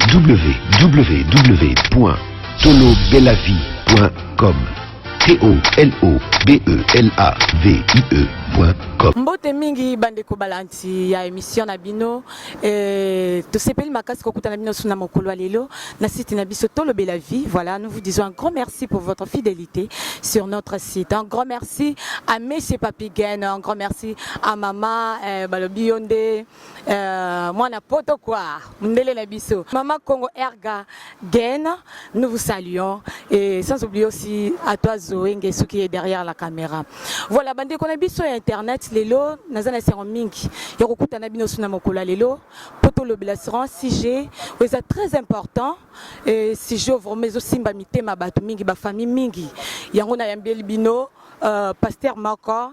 www.tolobelavie.com T-O-L-O-B-E-L-A-V-I-E.com Mbote mingi bandeko balanti ya emission na bino eh, tosepeli makasi kokutana bino suna mokolo ya lelo na site na biso tolobela vie voilà nous vous disons un grand merci pour votre fidélité sur notre site un grand merci à monsieur Papigen un grand merci à maman eh, balobi yo nde Euh, mwana poto quoi mundele na biso mama congo erga gen nous vous saluons et sans oublier aussi à toi zoe ngesu qui est derrière la caméra voilà bandeko na biso ya internet lelo naza na esengo mingi ya kokuta na bino suna mokolo ya lelo mpo tolobela sran sujet oyo eza très important et sujet oyo vraiment ezosimba mitema bato mingi bafamille mingi yango nayambeli bino euh, pasteur moko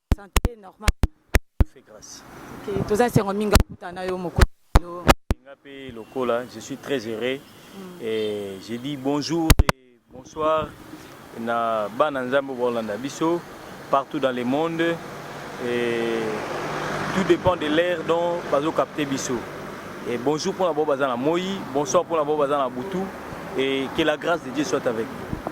Santé normal. Fait grâce. Okay, toza sengo mingi kuta na yo moko. Nga pe lokola, je suis très heureux. Mm. Et j'ai dit bonjour et bonsoir na bana nzambe bolanda biso partout dans le monde et tout dépend de l'air dont bazo capter biso. Et bonjour pour la bobaza na moi, bonsoir pour la bobaza na butu et que la grâce de Dieu soit avec vous.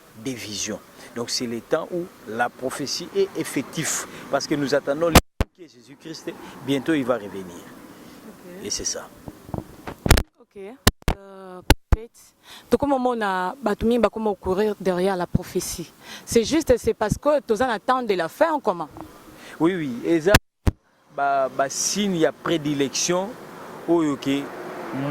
des visions donc c'est le temps où la prophétie est effectif parce que nous attendons le qui est Jésus Christ bientôt il va revenir okay. et c'est ça ok euh, tokoma omona bato mingi bakoma courir derrière la prophétie c'est juste c'est parce que toza na temps de la fin en commun oui oui eza ba ba signe ya predilection oyo ke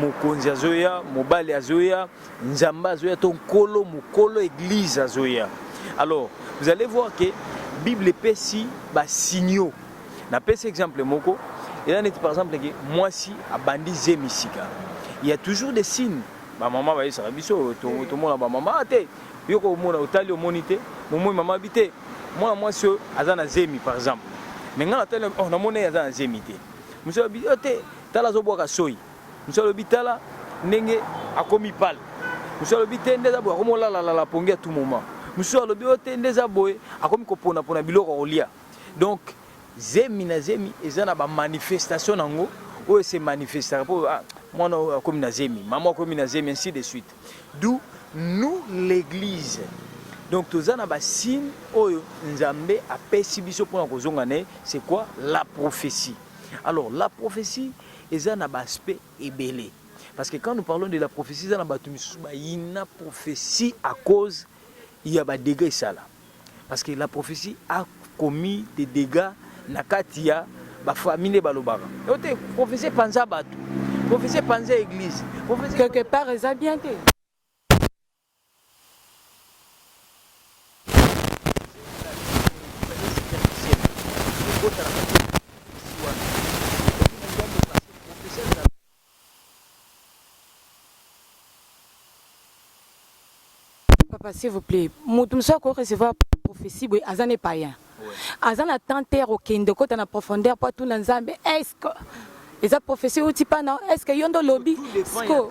mokonzi azoya mobali azoya nzambe azoya to nkolo mokolo eglise azoya alors vous allez voir que bible epesi basignaux napesi exemple moko eza neti par exemple ke mwasi abandi zemi sika il y a toujours des signes bamama bayesaka biso tomona bamama ah, te Yo ko omona otali omoni te, momoi mama bi te. Mwana mwasi oyo aza na zemi par exemple. Mais nga na tali oh na mona aza na zemi te. Musala bi oh te, tala zo bwaka soyi. Musala bi tala ndenge akomi pale. Musala bi te ndeza bwa komo la la la pongi à tout moment. Musala bi oh te ndeza boye akomi ko pona pona biloko kolia. Donc zemi na zemi eza na ba manifestation nango oyo se manifestaka po ah, mwana oyo akomi na zemi, mama akomi na zemi ainsi de suite. D'où nous l'eglise donc toza na ba signe oyo nzambe apesi biso mpona kozonga na ye c'est quoi la prophétie alors la prophétie eza na ba aspect ebele parce que quand nous parlons de la prophétie eza na bato misusu bayina prophétie à cause ya ba dégre esala Parce que la prophétie a commis des dégâts na kati ya ba famille nde balobaka. Yo te prophétie panza bato. Prophétie panza église. Prophétie quelque part eza bien te. Papa s'il vous plaît, mutu mususu ako recevoir prophetie boye aza ne païen. Aza na temps te ya kokende kota na profondeur mpo atuna Nzambe est-ce que eza prophetie euti pana est-ce que yo nde olobi siko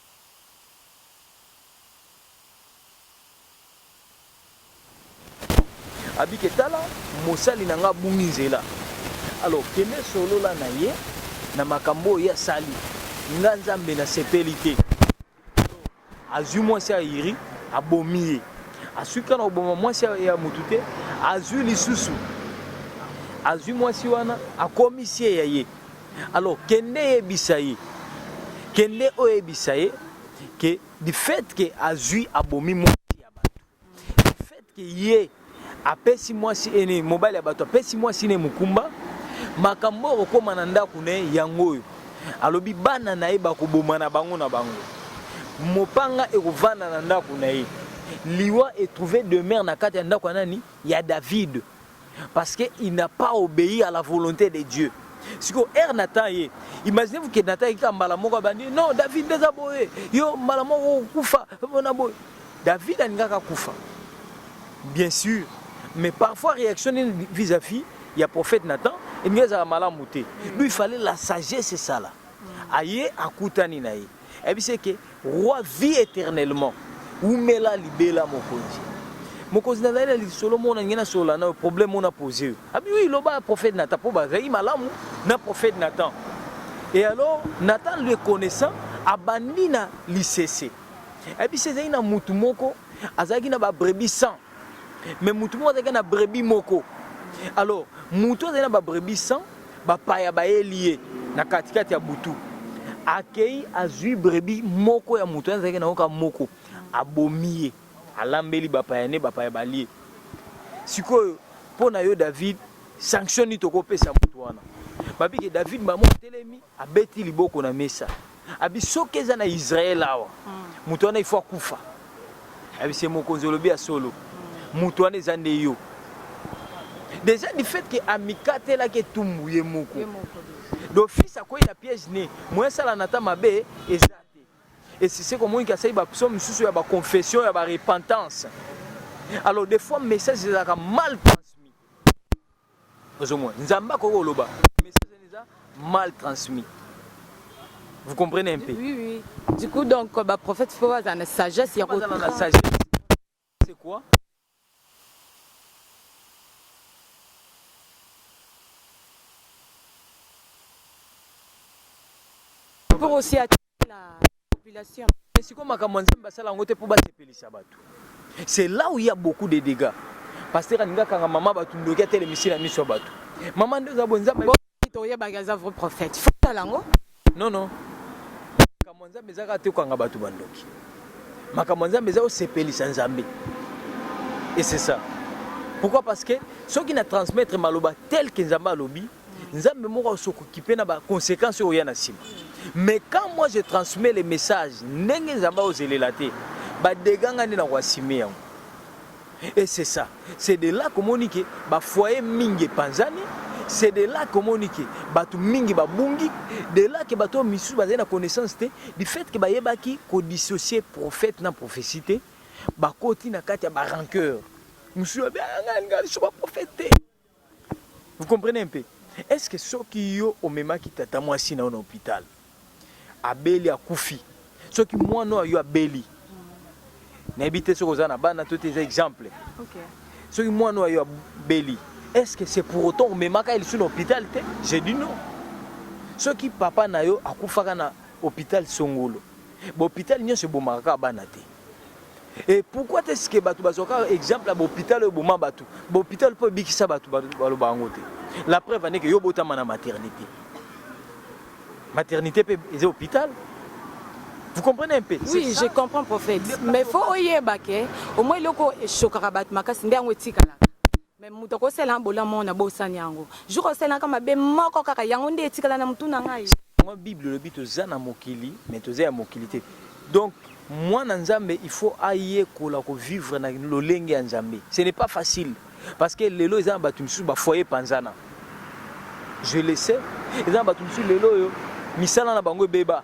Abike tala mosali na nga abungi nzela alors kende solola na ye na makambo oyo ye asali nga nzambe nasepeli te azwi mwasi ya iri abomi ye aswi kaka na koboma mwasi ya motu te azwi lisusu azwi mwasi wana akomisi ye ya ye Alors kende yebisa ye, kende oyebisa ye que du fait que azui abomi mwasi ya bato, du fait que ye apesi mwasi ene mobali ya bato apesi mwasi ne mokumba, makambo oyo okokoma na ndako na ye yango oyo alobi bana na ye bakoboma na bango na bango, mopanga ekovanda na ndako na ye, liwa etrouve demeure na kati ya ndako ya nani ya David. parce que il n'a pas obéi à la volonté de Dieu siko ere natan ye imagine vous ke natan yekika mbala moko abandi non david nde eza boye yo mbala moko okufa mpona boye david alingaka akufa bien sûr mais parfois réaction nini vis-à-vis ya prophète natan elingi ezala malamu te lui fallait la sagesse esala aye akutani na ye ayebisi eke roi vie éternellement umela libela mokonzi mokonzi nazali na lisolo mona nge nasolola nayo problème ona pose yo abi wi loba ya prophète nathan mpo bazalaki malamu na prophète nathan e alors nathan le connaissant abandi na lisese ayebisi ezalaki na motu moko azalaki na babrebi 100 mais mutu moko azalaki na brebis moko alors mutu azali na ba brebis 100 bapaya bayeli ye na katikati ya butu akei azwi brebis moko ya mutu azalaki na yoka moko abomi ye alambeli bapaya nde bapaya balie sikoyo mpo na yo david sanction nini tokopesa mutu wana babike david mbamo atelemi abeti liboko na mesa abi soki eza na israel awa mm. moto wana ifo akufa abi se mokonzi olobi ya solo mm. moto wana eza nde yo déjà du fait ke amikatelaki etumbu ye moko d'office akwei na piège ne moye asala na ata mabe eza te esise komoni ke asali bapso mosusu ya baconfession ya barepentance alors des fois message ezalaka mal ozomona nzambe akoki koloba message wana eza mal transmis vous comprenez un peu oui, oui. du coup donc baprophète fo bazala na sagesse ya kozala na sagesse c'est quoi pour aussi attirer sikoyo makambo ya nzambe basala yango te mpo basepelisa bato c'est là où il y a beaucoup de dégâts pasteur alingi akanga mama bato ndoki atelemisi na miso ya bato mama nde oza boye nzambe toyebaki aza vrai prophète fotala yango non non makambo ya nzambe ezaka te okanga bato bandoki makambo ya nzambe eza osepelisa nzambe et c'est ça pourquoi parce que soki na transmettre maloba tel que nzambe alobi Nzambe moko asokokipe na ba conséquences oyo ya na sima. Mais quand moi je transmets les messages, ndenge Nzambe ozelela te, ba dégâts nga nde na koassumer yango. Et c'est ça. C'est de là komoni ke ba foyer mingi epanzani, c'est de là komoni ke bato mingi babungi, de là ke bato misusu bazali na connaissance te, du fait ke bayebaki ko dissocier prophète na prophétie te, bakoti na kati ya ba rancœur. Mususu alobi ah nga nga lisusu ba prophète te. Vous comprenez un peu? Est ce que soki yo omemaki tata mwasi na yo na hôpital abeli akufi, soki mwana oyo yo abeli nayebi te soki oza na bana to te, eza exemple okay. soki mwana oyo yo abeli est ce que c'est pour autant omemaka ye lisusu na hôpital te? J'ai dit non. Soki papa na yo akufaka na hôpital Songolo, ba hôpital nyonso ebomaka kaka bana te. Et pourquoi est-ce que bato bazwaka exemple ya bahopital oyo eboma bato bahopital mpo ebikisa bato baloba yango te la preuve ane ke yo obotama na maternité maternité mpe eza hôpital Vous comprenez un peu Oui, je comprends, prophète. Mais il faut oyeba que au moins loko chokaka bat makasi nde yango etikala. Mais mutu akosala na bolamu oyo nabosani yango. Jour osalaka mabe moko kaka yango nde etikala na mutu na ngai. Yango bible elobi toza na mokili mais toza ya mokili te. Donc mwana Nzambe il faut ayekola ko vivre na lolenge ya Nzambe. Ce n'est pas facile parce que lelo eza na batu misusu ba foyer panzana. Je le sais. Eza na batu misusu lelo oyo misala na bango ebeba.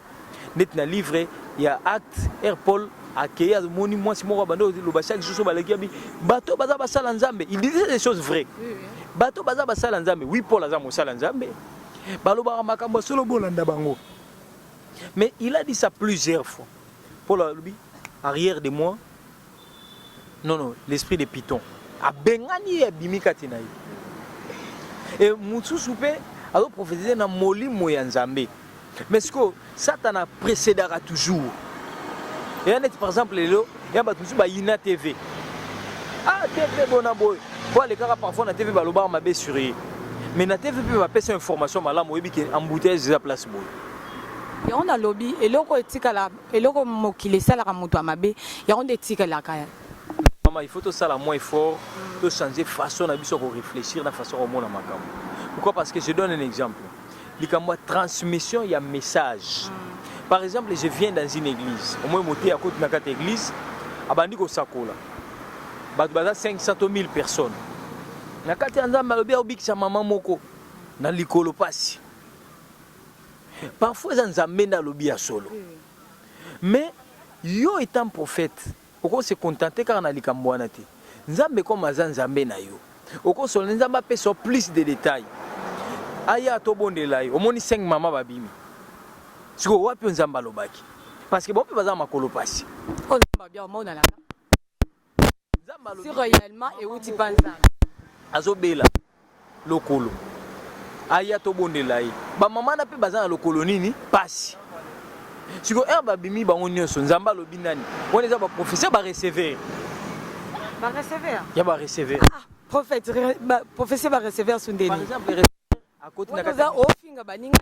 neti na livre ya acte er paul akei amoni mwasi moko abanda oloba chaque jour so baleki abi bato baza basala nzambe il disait des choses vraies bato baza basala nzambe oui paul aza mosala nzambe balobaka makambo ya solo bolanda bango mais il a dit ça plusieurs fois paul alobi arrière de moi Non non, l'esprit de python. Abengani ye abimi kati na ye. Et mosusu mpe azo prophétiser na molimo ya Nzambe. Mais sikoyo Satana précédaka toujours. eya neti par exemple lelo ya bato mosusu bayina tv ah tv bona boye po alekaka parfois na tv balobaka mabe sur ye mais na tv mpe bapesa information malamu oyebi ke embouteillage eza place boye yango nalobi eloko etikala Eloko mokili esalaka moto ya mabe yango nde etikalaka. Mama, il faut tosala moins effort, to changer façon na biso ya ko réfléchir na façon ya komona makambo. Pourquoi? Parce que je donne un exemple. Likambo ya transmission ya message. Par exemple, je viens dans une église. Omoi moteyi akoti na kati ya église, abandi kosakola. Bato baza 500 to 1000 personnes. Na kati ya Nzambe alobi akobikisa mama moko na likolo pasi. Parfois eza Nzambe nde alobi ya solo. Mais yo etant prophète, oko se contenter kaka na likambo wana te. Nzambe comme aza Nzambe na yo, oko solo Nzambe apesa plus de détails. Aya tobondela ye. Omoni 5 mama babimi. Siko wapi Nzambe alobaki? Parce que bope baza makolo pasi. Oyo Nzambe abia omonana. si réellement ewuti pa nzambe azobela lokolo aya tobondela ye bamama na mpe baza na lokolo nini mpasi siko heure babimi bango nyonso nzambe alobi nani wana eza baprofesseur bareceveur ya bareceveur ah, prophète prophetie bareceveur sundeni akoti na kati ofinga baninga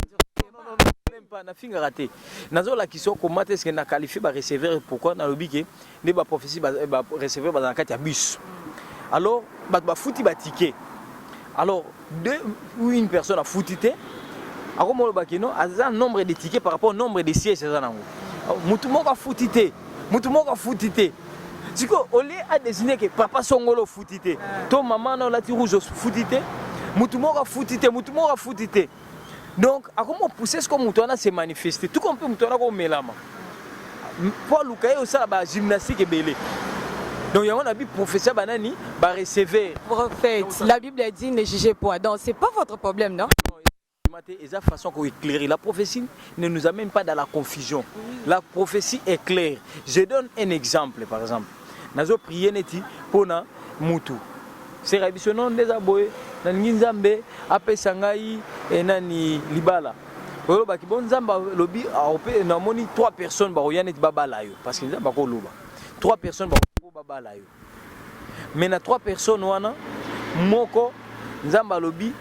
même pas na finga raté nazo la kiso comment est-ce que na qualifier ba receveur pourquoi na lobi que ne ba prophétie ba, ba receveur ba na kati ya bus alors ba ba futi ba ticket alors deux ou une personne a futi te akomo loba que non aza nombre de tickets par rapport au nombre de sièges aza nango mutu moko afuti te mutu moko afuti te siko olie a désigner que papa songolo futi te to maman na olati rouge futi te mutu moko afuti te mutu moko afuti te donc akomi opousse siko mutu wana se manifeste tuko mpe mutu wana komelama mpo aluka ye osala ba gymnastique ebele donc yango na bi professeur banani ba receveur prophète la bible a dit ne jugez point donc c'est pas votre problème non Kondima te eza façon ya ko eclairer. La prophetie ne nous amène pas dans la confusion. La prophetie est claire. Je donne un exemple par exemple. Nazo prier neti pona mutu. Sera biso non ndeza boye nalingi Nzambe apesa ngai eh, nani libala. Olobaki bon Nzambe alobi aope namoni 3 personnes bakoya neti babala yo parce que Nzambe akoloba. 3 personnes bakobabala yo. mais na trois personnes wana moko nzambe alobi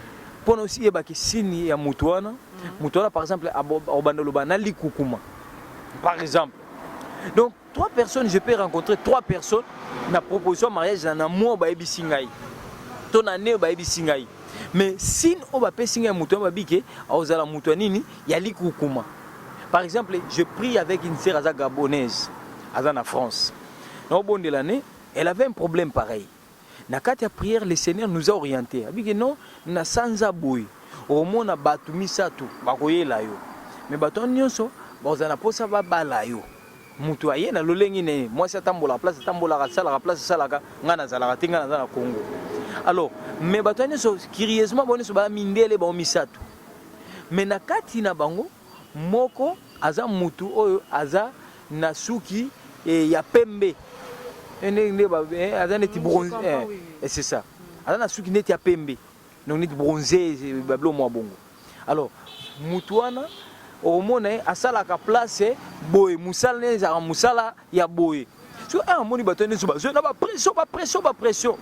mpo na osi yebaki sini ya moto wana mm. moto wana par exemple obanda oloba na likukuma par exemple donc trois personnes je peux rencontrer trois personnes na proposition ya mariage na na mwa oyo bayebisi ngai to na ne oyo bayebisi ngai mais sine oyo bapesi ngai ya moto wana babi ke akozala moto ya nini ya likukuma par exemple je prie avec une sere aza gabonaise aza na france na obondela ne elle avait un problème pareil na kati ya prière le seigneur nous a orienté abiki non na sanza boye omona bato misato bakoyela yo me bato wana nyonso bakozala na mposa babala yo moto aye na lolenge na ye mwasi atambolaka place atambolaka asalaka place asalaka ngai nazalaka te ngai naza na congo alors me bato wana nyonso curieusement bango nyonso baya mindele bango misato me na kati na bango moko aza mutu oyo aza na suki eh, ya pembe eh, nde nde ba- eh, aza neti Mm, je bronze comprends, eh, oui, oui. eh, c'est ça aza na suki neti ya pembe donc neti bronze eh, babilo mwa bongo alors mutu wana okomona ye asalaka place eh, boye mosala naye ezalaka mosala ya boye so eh, amoni bato nyonso bazoi na bapression bapression bapression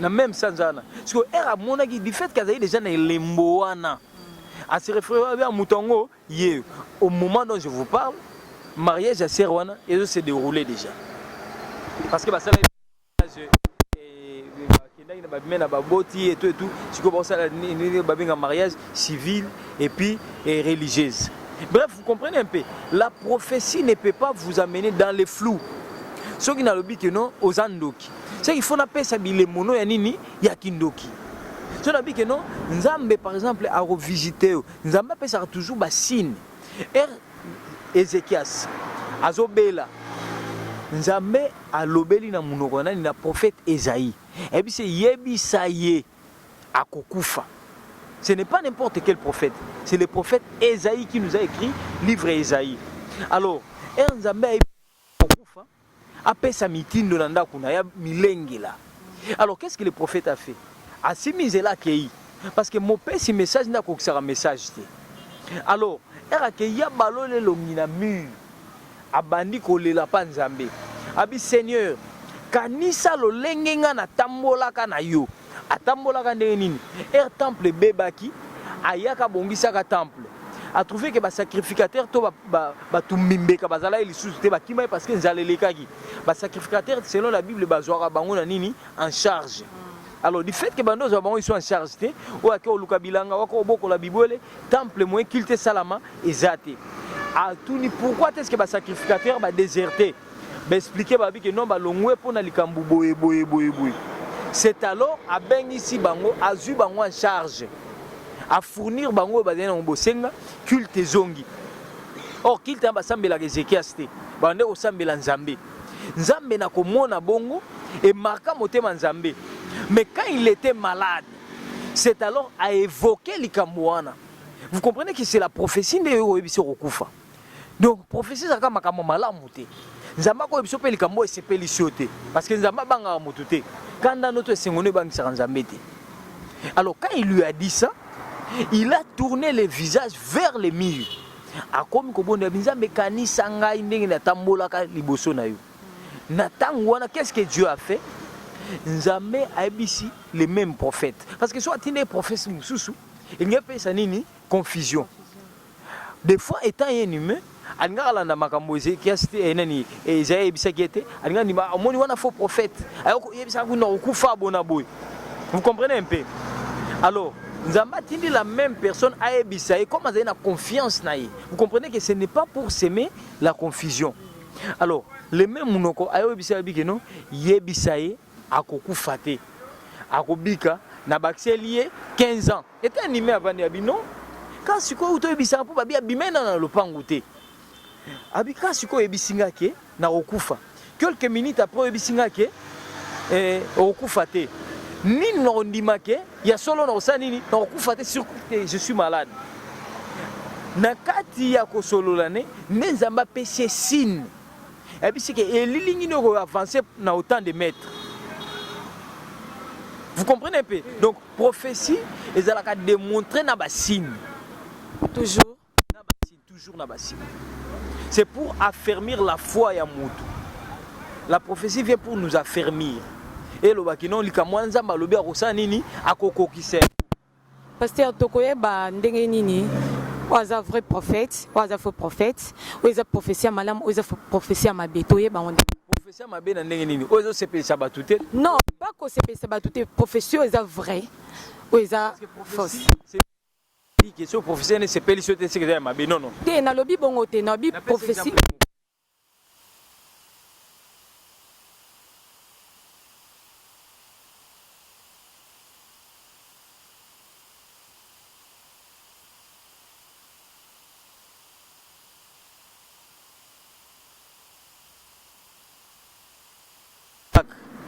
na meme sanza wana sikoyo ere amonaki du fait ke azali deja na elembo wana a se référer à ah, Mutongo, ye, au moment dont je vous parle, mariage à Serwana, et se déroulé déjà. Parce que bah, ça, bakendaki na babime na baboti etu etu sikoyo bakosala nini babenga mariage civil et puis et religieuse bref vous comprenez un peu la prophétie ne peut pas vous amener dans le flou soki nalobi ke non oza ndoki soki fo napesa bilemono ya nini ya kindoki so nabi ke non nzambe par exemple akovisite yo nzambe apesaka toujours basine er ezekias azobela nzambe alobeli na monoko ya nani na prophète ezai ayebisi yebisa ye akokufa ce n'est pas n'importe quel prophète c'est le prophète ezai qui nous a écrit livre ezai alors er nzambe ayebi Kokufa, apesa mitindo na ndako na ya milengela. Alors qu'est-ce que le prophète a fait? Asimbi nzela akeyi parce que mopesi message nde akokisaka message te. Alors, ere akeyi abaloli elongi na mur. Abandi kolela pa Nzambe. Abi Seigneur, kanisa lolenge nga natambolaka na yo. Atambolaka ndenge nini? Heure temple ebebaki, ayaka abongisaka temple. A trouvé que ba sacrificateurs to ba, ba, ba tumbimbeka bazalaki lisusu te bakimaki parce que nzala elekaki. Ba sacrificateurs selon la Bible bazwaka bango na nini? En charge. Alors du fait que bando ozwa bango iso en charge te, oyo ake oluka bilanga wako obokola bibwele, temple moyen culte salama eza te. Atuni pourquoi est-ce que ba sacrificateurs ba déserter? ba expliquer ba biki non balongwe mpo na likambo boye boye boye boye c'est alors abengisi bango azwi bango en charge a fournir bango oyo bazali nango bosenga culte ezongi or culte wana basambelaka ezekias te bande kosambela nzambe nzambe na komona bongo emarka motema nzambe mais quand il était malade c'est alors a évoquer likambo wana vous comprenez que c'est la prophétie nde oyo oyebisi okokufa Donc prophetie ezalaka makambo malamu te. Nzambe akoyebisa mpe likambo oyo esepelisi yo te, parce que Nzambe abangaka moto te. Kanda noto esengo nde ebangisaka Nzambe te. Alors quand il lui a dit ça, il a tourné le visage vers le mur. Akomi kobondela binzambe kanisa ngai ndenge natambolaka liboso na yo. Na tango wana qu'est-ce que Dieu a fait? Nzambe ayebisi le même prophète. Parce que soit atindaki prophète mosusu, elingi apesa nini? Confusion. De fois etant un humain alingaka landa makambo Ezekias te eh, nani Esaïe ayebisaki ete alingaka ndima ah, omoni wana faux prophète ayoko yebisaka kuna kokufa bona boye vous comprenez un peu alors Nzambe atindi la même personne ayebisa ye comme azali na confiance na ye vous comprenez que ce n'est pas pour semer la confusion alors le même munoko ayebisa ye bike no yebisa ye akokufa te akobika na bakiseli ye 15 ans Ete anime avandi abi non kaka sikoyo uta oyebisaka mpo babi abimai nano na lopango te abi kaka sikoyo oyebisi nga ke nakokufa quelques minutes après oyebisi nga ke eh, okokufa te nini nakondima ke ya solo nakosala nini nakokufa te sur te je suis malade na kati ya kosolola ne nde nzambe apesi esine ayebisi ke elilingi nde okoavanse na autant de maître vous comprenez mpe donc Prophetie ezalaka demontre na ba signe. Toujours na ba signe, toujours na ba signe. C'est pour affermir la foi ya mutu. La prophétie vient pour nous affermir. Et le bakino likamwa nzamba lobi akosala nini akokokisa. Pasteur tokoyeba ndenge nini oyo aza vrai prophète oyo aza faux prophète oyo eza prophetie ya malamu oyo eza prophetie ya mabe toyeba yango nde Profession mabe na ndenge nini? Oyo ezo sepelisa batu te. Non, pas ko sepelisa batu te. Profession eza vrai. Oyo eza fausse. Question profession ne sepelisa te seke eza ya mabe. Non non. Te na lobi bongo te, na lobi profession.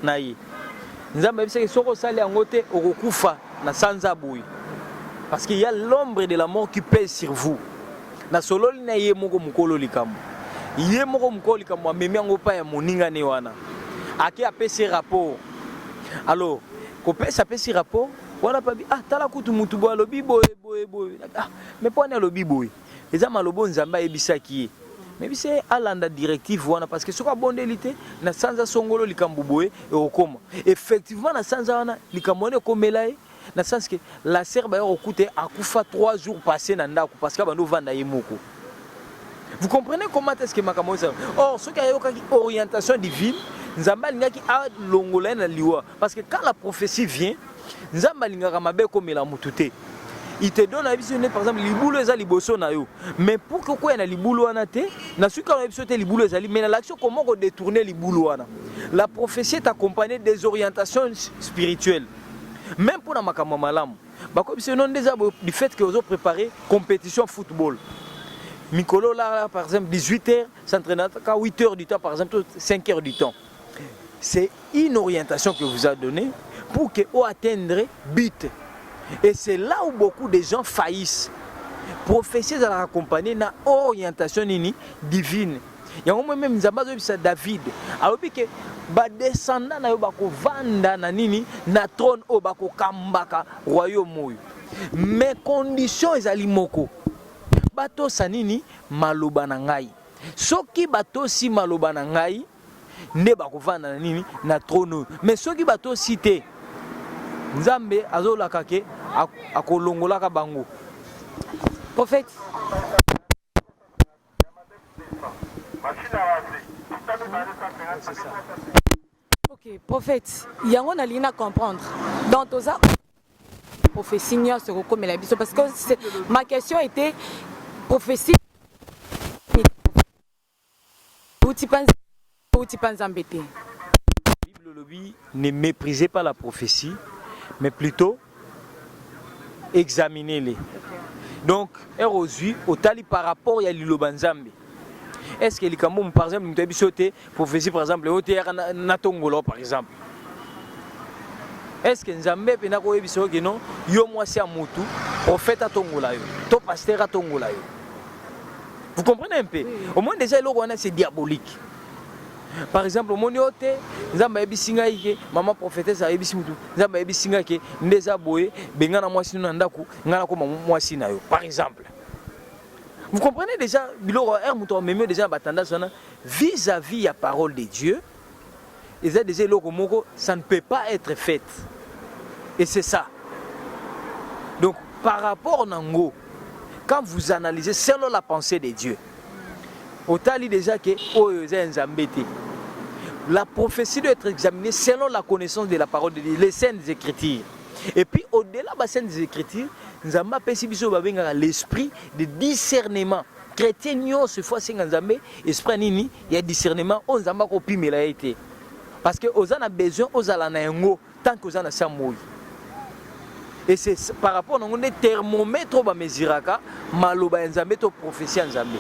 na ye nzambe ayebisaki soki osali yango te okokufa na sanza boye parce qu'il y a l'ombre de la mort qui pèse sur vous nasololi na ye moko mokolo likambo ye moko mokolo likambo amemi yango epai ya moninga ne wana ake apesi rapport alors kopesa apesi rapport wana pabi ah tala kutu motu boye alobi boye boye boye ah, me mpo ani alobi boye eza maloba oyo nzambe ayebisaki ye mebisa ye alanda directive wana parce que soki abondeli te na sanza songolo likambo boye ekokoma effectivement na sanza wana likambo wana ekomela ye na sens que la sœur baye kokuta ye akufa 3 jours passé na ndako parce que abandi ovanda ye moko vous comprenez comment est-ce que makambo ezala or soki ayokaki orientation divine nzambe alingaki alongola ye na liwa Parce que quand la prophétie vient, Nzambe alingaka mabe komela mutu te. Il te donne na biso par exemple libulu eza liboso na yo. Mais pour que quoi na libulu wana te, na suka na biso te libulu ezali mais na l'action comment ko détourner libulu wana. La prophétie est accompagnée des orientations spirituelles. Même pour na makambo malamu. Bako biso non déjà du fait que ozo préparer compétition football. Mikolo là, là par exemple 18h, s'entraîner à 8h du temps par exemple 5h du temps. c'est une orientation que vous a donné pour que o atteindre but et c'est là où beaucoup de gens faillissent prophétie ezalaka accompagne na orientation nini divine yango moi meme nzambe azobisa david alobi ke badescendant na yo bakovanda na nini na trône oyo bakokambaka royaume oyo mais condition ezali moko batosa nini maloba na ngai soki batosi maloba na ngai nde bakovanda na nini na trone oyo me soki batosi te nzambe azolaka ke akolongolaka bango prophète ok prophète yango nalingi na comprendre donc toza prophétie nyonso ekokomela biso parce que ma question était prophétie Bouti pa nzambe te bouti pa nzambe te. Bible olobi ne meprisez pas la prophetie mais plutot examine le donc heure ozwi otali par rapport ya liloba nzambe est ce que likambo par exemple moto ayebi so te prophetie par exemple oteyaka natongola par exemple est ce que nzambe mpena koyebisa yo keno yo mwasi ya motu prophète atongola yo to pasteur atongola yo vous comprenez un peu au moins déjà eloko wana c'est diabolique par exemple omoni yo te nzambe ayebisi ngai ke mama prophétesse ayebisi mutu nzambe ayebisi ngai ke nde eza boye benga na mwasi no na ndako ngai nakoma mwasi na yo par exemple vous comprenez déjà biloko heure moto amemi yo déjà na batandasi wana vis à vis ya parole de dieu eza deja eloko moko ça ne peut pas être faite et c'est ça donc par rapport na ngo quand vous analysez selon la pensée de dieu otali deja ke oyo eza ya nzambe te la prophétie doit être examinée selon la connaissance de la parole de dieu les saintes écritures et puis au-delà ba saintes écritures nzambe apesi biso babengaka l'esprit de discernement chrétien nyonso ifo asenga nzambe esprit ya nini ya discernement oyo nzambe akopimela ye te parce que oza na besoin ozala na yango tant que oza na sa moi et c'est par rapport na yango nde thermomètre oyo bamesiraka maloba ya nzambe to prophétie ya nzambe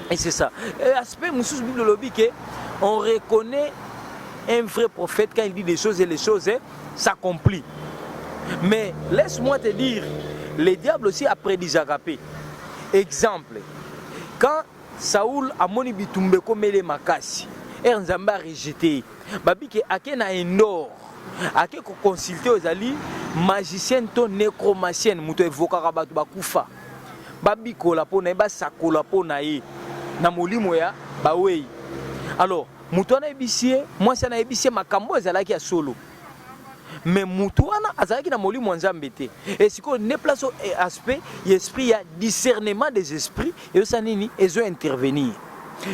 et c'est ça et aspect mosusu bible olobi ke on reconnaît un vrai prophète quand il dit des choses et les choses eh, s'accomplissent mais laisse-moi te dire le diable aussi apredisaka mpe exemple quand Saul amoni bitumba ekomele makasi ere nzambe arejete ye babi ke ake na endor ake koconsulte oyo ezali magicienne to necromacienne moto evokaka bato bakufa babikola mpo na ye basakola mpo na ye na molimo ya bawei alors moto wana ayebisi ye mwasi wana ayebisi ye makambo ezalaki ya solo mais mutu wana azalaki na molimo ya nzambe te e sikoyo nde place oyo eh, aspect ya esprit ya discernement des esprits ezosa nini ezo intervenir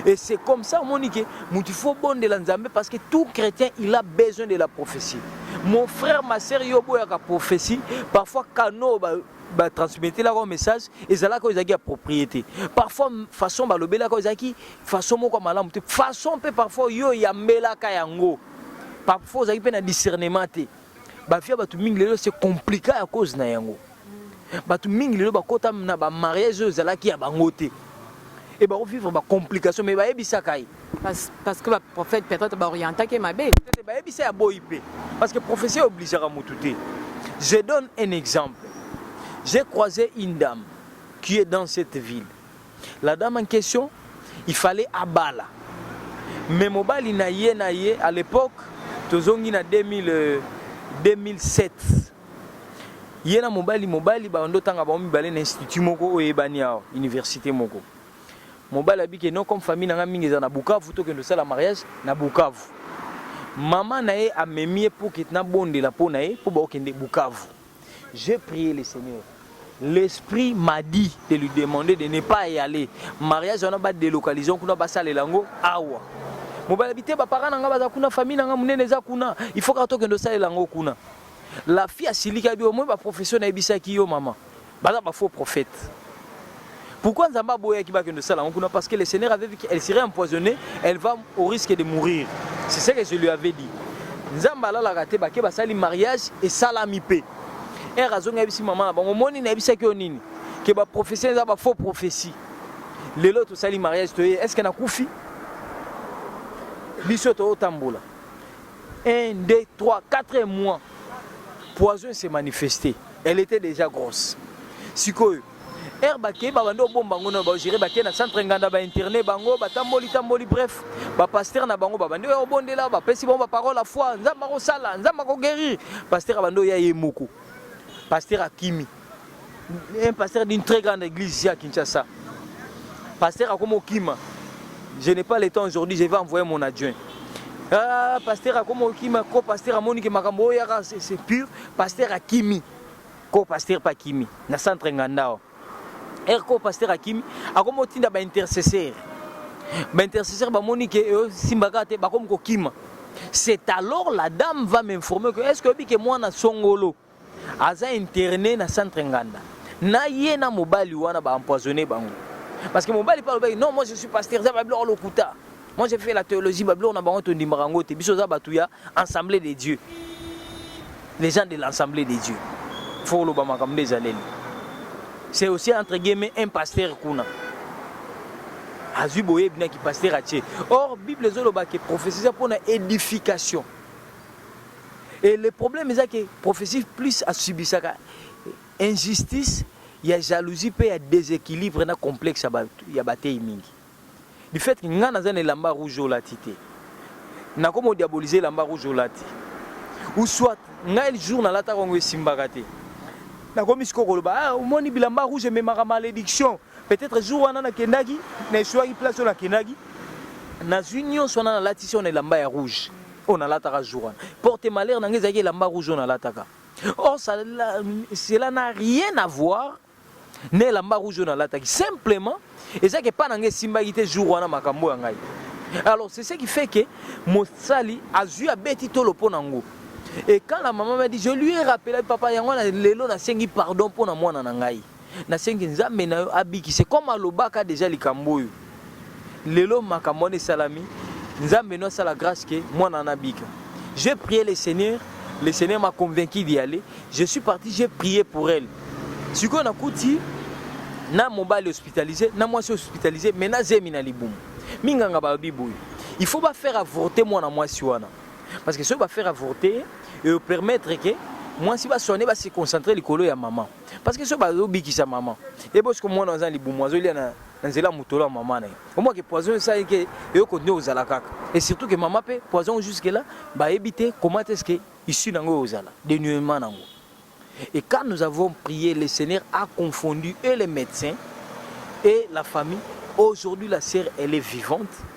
et c'est comme ça omoni ke mutu faut bondela nzambe parce que tout chrétien il a besoin de la prophétie mon frère ma sœur yo boyaka prophétie parfois kano ba batransmettelaka yo message ezalaka oyo ezalaki ya propriété parfois façon balobelaka oyo ezalaki façon moko ya malamu te façon mpe parfois yo oyambelaka yango parfois ozalaki mpe na discernement te bavia bato mingi lelo se compliqua ya cause na yango bato mingi lelo bakota na bamariage oyo ezalaki ya bango te e bakovivre bacomplication mai bayebisaka ye parce que baprophète peut-être baorientaki ye mabe bayebisa ya boyi mpe parce que prophétie obligeaka motu te je donne un exemple j'ai croisé une dame qui est dans cette ville La dame en question il fallait abala mais mobali na ye na ye à l'époque tozongi na 2000 euh, 2007 ye na mobali mobali bando otanga bango mibale na institut moko oyo eyebani awa université moko mobali abike no comme famille na ngai mingi eza na bukavu tokende osala mariage na bukavu mama na ye amemi ye poket nabondela mpo na ye mpo baokende bukavu J'ai prier le Seigneur l'esprit m'a dit de lui demander de ne pas y aller mariage wana ba délocalisation kuna basalela yango awa mobali abi te bapara na ngai baza kuna famille na ngai monene eza kuna il faut kaka tokende osalela yango kuna la fille asiliki abi omoi baprofession nayebisaki yo mama baza bafaux prophète Pourquoi Nzambe aboyaki bakende sala yango kuna parce que le Seigneur avait vu qu'elle serait empoisonnée, elle va au risque de mourir. C'est ce que je lui avais dit. Nzambe alalaka te bake basali mariage esalami mpe. Ere azongi ayebisi mama na bango moni nayebisaki yo nini? Ke ba prophetie eza ba faux prophetie. Lelo tosali mariage toye est-ce que nakufi? Biso totambola. 1 2 3 4 mois poison s'est manifesté. Elle était déjà grosse. Sikoyo heure bakei babandi obomba ngo na bagere bakei na centre nganda bainterne bango batamboli tamboli bref bapaster na bango babandi oyo obondela bapesi bango baparole ya foi nzambe akosala nzambe akoguerrir paster abandi oya ye moko paster akimi un pasteur d'une très grande église ici à Kinshasa. Pasteur Akomo Kima, je n'ai pas le temps aujourd'hui, je vais envoyer mon adjoint. Ah, pasteur Akomo Kima, co-pasteur Amonique Makambo, c'est pur, pasteur Akimi. ko pasteur pa kimi na centre ngandao er ko pasteur akimi akomi otinda ba intercesseur ba intercesseur bamoni ke euh, simbaka te bakomi kokima c'est alors la dame va m'informer que est-ce que oyebi ke mwana songolo aza interne na centre nganda na ye na mobali wana baempoisonne bango parce que mobali mpe alobaki non moi je suis pasteur eza babiloko lokuta Moi j'ai fait la théologie, ba biloko na bango tondimaka yango te. Biso oza bato ya Assemblée de Dieu. Les gens de l'Assemblée de Dieu. Faut oloba makambo nde ezaleli. C'est aussi entre guillemets un pasteur kuna. Azui boyebi na ki pasteur atie. Or Bible ezoloba ke prophétie eza pona édification. Et le problème eza ke prophétie plus asubisaka injustice ya jalousie pe ya déséquilibre na complexe ya bateyi mingi. du fait que ngai naza na elamba rouge olati te nakoma odiabolize elamba rouge olati ou soit ngai jour nalataka yango esimbaka te nakomi sikoyo koloba ah, omoni bilamba rouge ememaka malédiction peut-être jour wana nakendaki na esuaki place oyo nakendaki nazwi nyonso wana nalatisi oyo na elamba ya rouge oyo nalataka jour wana porte malheur na ngai ezalaki elamba rouge oyo nalataka or cela n'a rien à voir na elamba rouge oyo nalataki simplement eza ke pa na ngai esimbaki te jour wana makambo ya ngai alors c'est ce qui fait que mosali azwi abeti tolo mpo na ngo et quand la maman m'a dit je lui ai rappelé papa yango na lelo nasengi pardon mpo na mwana na ngai nasengi nzambe na yo abikise comme alobaka deja likambo oyo lelo makambo wana esalami nzambe no asala grâce que mwana wana abika j'ai prié le seigneur le seigneur m'a convaincu d'y aller je suis parti j'ai prié pour elle sikoyo nakuti na mobali hospitalisé na mwasi hospitalisé mais na zemi na libumu minganga balobi boye il faut bafaire avorte mwana mwasi wana parce que soki bafaire avorte eopermettre ke mwasi baswane base concentre likolo ya mama parce que soki bazobikisa mama ebosko mwana aza na libumu azolia na na nzela ya motolo ya mama na ye omwa ke poison esa ye ke eyoko nde ozala kaka et surtout ke mama mpe poison jusque là bayebi te comment est ce que issue na yango ozala denuement na yango et quand nous avons prié le seigneur a confondu et les médecins et la famille aujourd'hui la sœur elle est vivante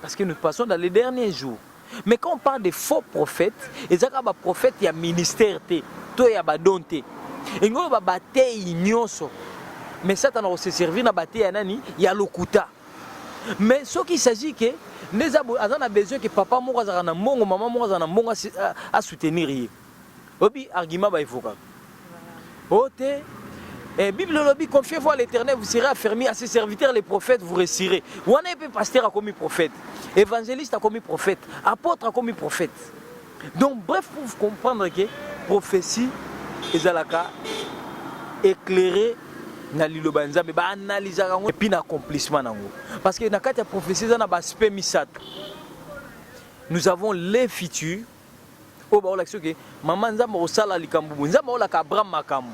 Parce que nous passons dans les derniers jours. Mais quand on parle de faux prophètes, ezaka ba prophètes ya ministère te, to ya ba don te. Engo ba bateyi nyoso. Mais Satan se servir na bateyi ya nani? Ya lokuta. Mais ce qu'il s'agit que les aza na besoin que papa moko azaka na mbongo, maman moko azaka na mbongo a soutenir ye. obi argument ba evokaka o oh, te eh, bible olobi confiez-vous à l'éternel vous serez affermi à ses serviteurs les prophètes vous resirez wana ye mpe pasteur akomi prophète évangéliste akomi prophète apôtre akomi prophète donc bref pour vous comprendre que prophétie ezalaka éclairé na liloba ya nzambe baanalizaka yango epuis na accomplissement na yango parce que na kati ya prophétie eza na baaspect misato nous avons les futurs oyo baolakisa oke mama nzambe akosala likambo boye nzambe aolaka abraham makambo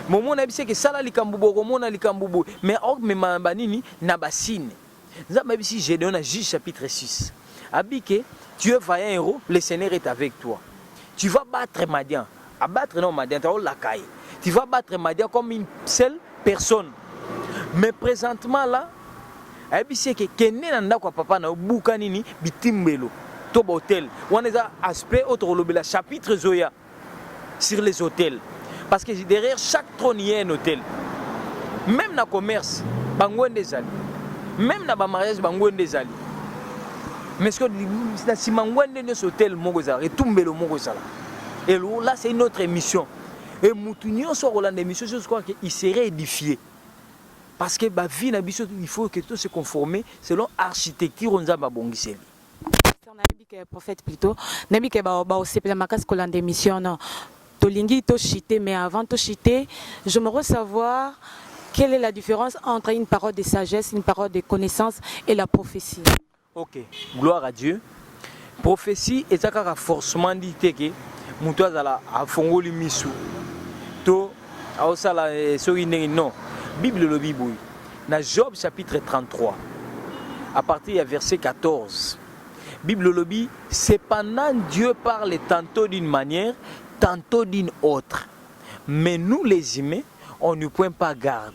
momo na yebisi eke sala likambo boye okomona likambo boye mais aomema na banini na basine nzambe ayebisi gedeon na juge chapitre 6 abike tu es vaillant héros le seigneur est avec toi tu vas battre madian A battre non Madian te, olaka ye. Tu vas battre Madian comme une seule personne. Mais presentement là, ayebisi ye ke kende na ndako ya papa na yo, buka nini bitimbelo to ba hotel. Wana eza aspect oyo tokolobela chapitre ezoya sur les hôtels. Parce que derrière chaque trône il y a un hôtel. Même na commerce, bango nde ezali. Même na ba mariage bango nde ezali. Mais ce que na sima ngwende nyoso hôtel moko ezala, etumbelo moko ezala. Hello, là c'est une autre émission. Et mutu nyonso akolanda émission je crois que il serait édifié. Parce que ba vie na biso il faut que tout se conformer selon architecture on nzamba bongiseli. nayebi ke prophète plutôt nayebi ke baosepela makasi kolanda émission no tolingi toshite mais avant toshite je me savoir quelle est la différence entre une parole de sagesse une parole de connaissance et la prophétie Ok, gloire à Dieu. Prophétie eza kaka forcement dit te ke moto azala afongoli misu to aosala eh, soki ndenge non. Bible elobi boye na Job chapitre 33 à partir ya verset 14. Bible elobi cependant Dieu parle tantôt d'une manière, tantôt d'une autre. Mais nous les humains, on ne point pas garde.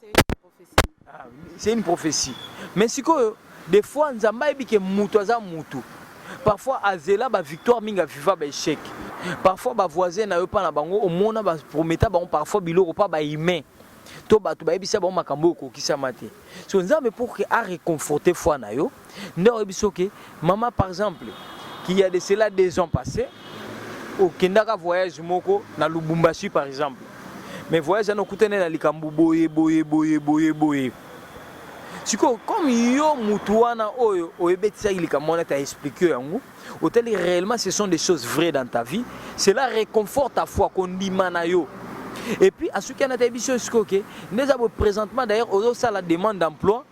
Ah, c'est une prophétie. Mais si quoi, des fois, Nzamba ebi que mutu aza mutu. Parfois, azela ba victoire minga viva ba échec. Parfois, ba voisin na yo pa na bango, au moins ba prometa bango parfois biloko pa ba humain. To bato bayebisa bango makambo oyo okokisama te. So Nzambe pour que a réconforter foi na yo, nde oyebi biso ke mama par exemple qu'il y a de cela deux ans passé okendaka voyage moko na lubumbashi par exemple mais voyage wana okutani na likambo boye boye boye boye boye sikoyo comme yo mutu wana oyo oyebetisaki likambo wana ta explike yo yango otali réellement ce sont des choses vraies dans ta vie cela réconforte ta foi kondima na yo et puis asuki ana tayebi biso sikoyo ke nde eza bo présentement d'ailleurs ozosala demande d'emploi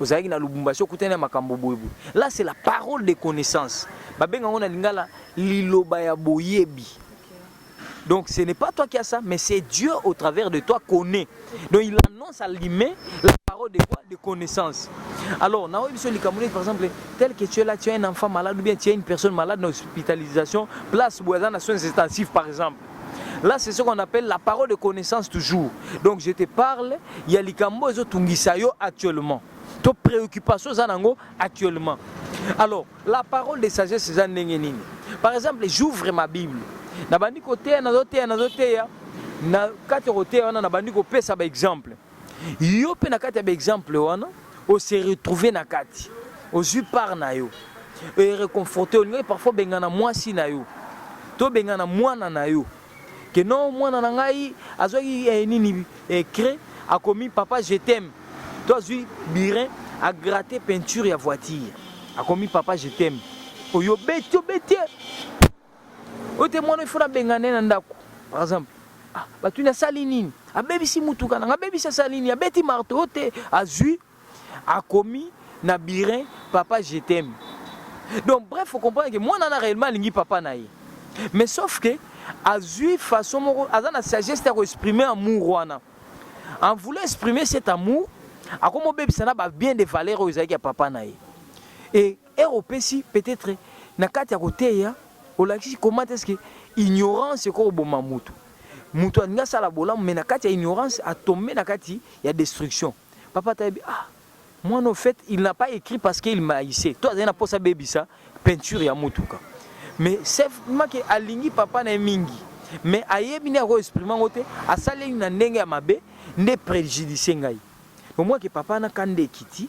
ozalaki na Lubumbashi okutani na makambo boye boye. Là c'est la parole de connaissance. Babenga yango na lingala liloba ya boyebi. Donc ce n'est pas toi qui as ça, mais c'est Dieu au travers de toi connaît. Donc il annonce à l'humain la parole de quoi De connaissance. Alors, na oyebi so likambo nini par exemple, tel que tu es là, tu as un enfant malade ou bien tu as une personne malade na hospitalisation, place boye aza na soins intensifs par exemple. Là, c'est ce qu'on appelle la parole de connaissance toujours. Donc, je te parle, il y a likambo ezo tungisa yo actuellement. To préoccupation za nango actuellement. Alors, la parole de sagesse za ndenge nini? Par exemple, j'ouvre ma Bible. Nabandi koteya, nazoteya, nazoteya. Na kati koteya wana nabandi kopesa ba exemple. yo mpe na kati ya baexemple wana ose retrouve na kati ozwi part na yo ereconforte olingaki parfois obengana mwasi na yo to obengana mwana na yo ke no mwana na ngai azwaki eh, nini eh, cre akomi papa je t'aime to azwi birin agrate peinture ya voiture akomi papa je t'aime oyo obeti obeti oyo te mwana ifo nabengane na ndako par exemple ah, batuni asali nini abebisi motuka nanga abebisi asali nini abeti marto oyo te azwi akomi na birin papa je t'aime donc bref faut comprendre que mwana na réellement alingi papa na ye mais sauf que azwi façon moko aza na sagesse ya koexprime amour wana en voulant exprimer cet amour akomobebisa na babien de valeur oyo ezalaki ya papa na ye e Heure opesi peut etre na kati ya koteya olakisi comment est ce que ignorance ekoki koboma mutu. Mutu alingi asala bolamu mais na kati ya ignorance a tomber na kati ya destruction. Papa ata yebi ah mwana au fait il n'a pas écrit parce qu'il m'a haïssait. To azali na posa abebisa peinture ya mutuka. Mais sauf make alingi papa na ye mingi. Mais ayebi nde ako exprimer yango te, asali na ndenge ya mabe nde prejudice ngai. Bomwa ke papa na kanda ekiti.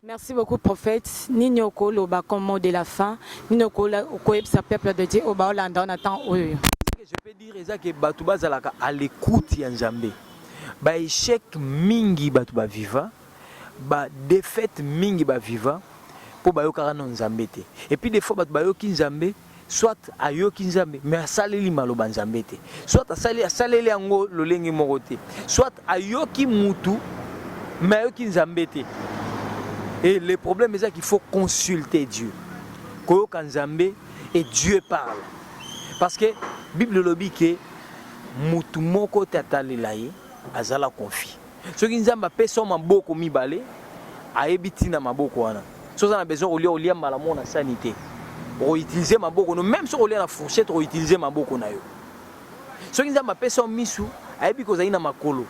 Merci beaucoup prophète nini oko loba comme mot de la fin nini oko oko yebisa peuple de Dieu oyo ba olanda na temps oyo. Ce que je peux dire eza que batu bazalaka à l'écoute ya Nzambe. Ba échec mingi batu ba viva, ba défaite mingi ba viva po bayokaka no Nzambe te. Et puis des fois batu bayoki Nzambe soit ayoki nzambe mais asaleli maloba nzambe te soit asali asaleli yango lolenge moko te soit ayoki mutu mais ayoki nzambe te et le problème eza qu'il faut consulter dieu koyoka nzambe et dieu parle parce que bible elobi ke mutu moko te atalela ye azala confie soki nzambe apesi yo maboko mibale ayebi ntina maboko wana soki oza na besoin kolia olia mbala moko na sani te okoutilize maboko no meme soki olia na fourchette okoutilize maboko na yo soki nzambe apesi yo misu ayebi kozali na makolo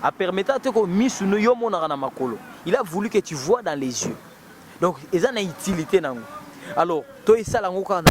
apermeta te ko misu no yo omonaka na makolo il a voulu que tu vois dans les yeux donc eza na utilité nango alors toyesala yango kaka na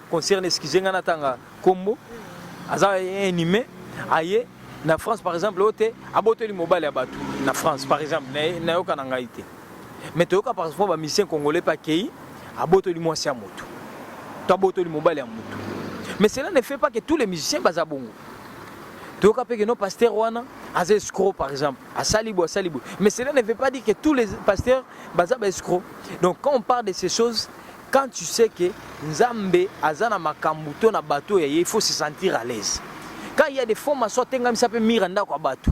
concerne excuse nga natanga kombo aza inhumain aye na France par exemple oyo te abotoli mobali ya bato na France par exemple nayoka na ngai te mais toyoka par exemple bamisien congolais mpe akei abotoli mwasi ya moto to abotoli mobali ya moto mais cela ne fait pas que tous les musiciens baza bongo toyoka mpe keno pasteur wana aza escro par exemple asali boye asali boye mais cela ne veut pas dire que tous les pasteurs baza ba escro donc quand on parle de ces choses Quand tu sais que Nzambe aza na makambo to na bato ya ye, il faut se sentir à l'aise. Quand il y a des faux maçons, atengamisa mpe mire ndako ya bato.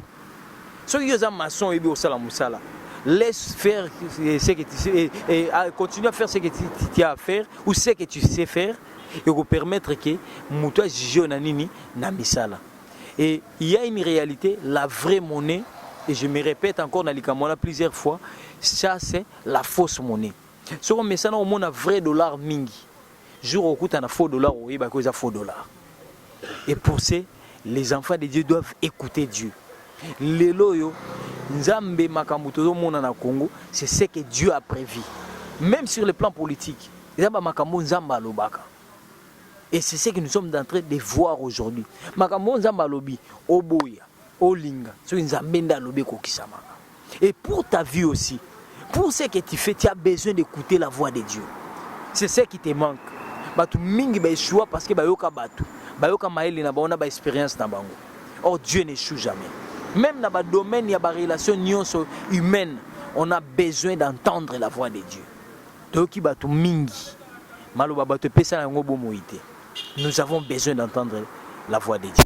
Soki yo oza maçon oyebi kosala mosala, laisse faire ce que tu sais, et, et, et continue à faire ce que tu, tu, tu as à faire ou ce que tu sais faire et ko permettre que moto ajuge na nini na misala. Et il y a une réalité, la vraie monnaie, et je me répète encore na likambo wana plusieurs fois, ça c'est la fausse monnaie. soki omesana omona vrai dollar mingi jour okuta na faux dollar oyeba ko eza faux dollar et pour ce les enfants de Dieu doivent écouter Dieu lelo oyo nzambe makambo tozomona na Congo c'est ce que Dieu a prévu même sur le plan politique eza ba makambo nzambe alobaka et c'est ce que nous sommes en train de voir aujourd'hui makambo nzambe alobi oboya Olinga soki Nzambe nde alobi ekokisamaka. Et pour ta vie aussi, pour ce que tu fais, tu as besoin d'écouter la voix de Dieu. C'est ce qui te manque. Batu mingi ba échoua parce que bayoka batu, bayoka maele na bango na ba expérience na bango. Or Dieu n'échoue jamais. Même dans le domaine, il y a des relations humaines. On a besoin d'entendre la voix de Dieu. Toyoki batu mingi. Maloba batu pesa yango bomoite. Nous avons besoin d'entendre la voix de Dieu.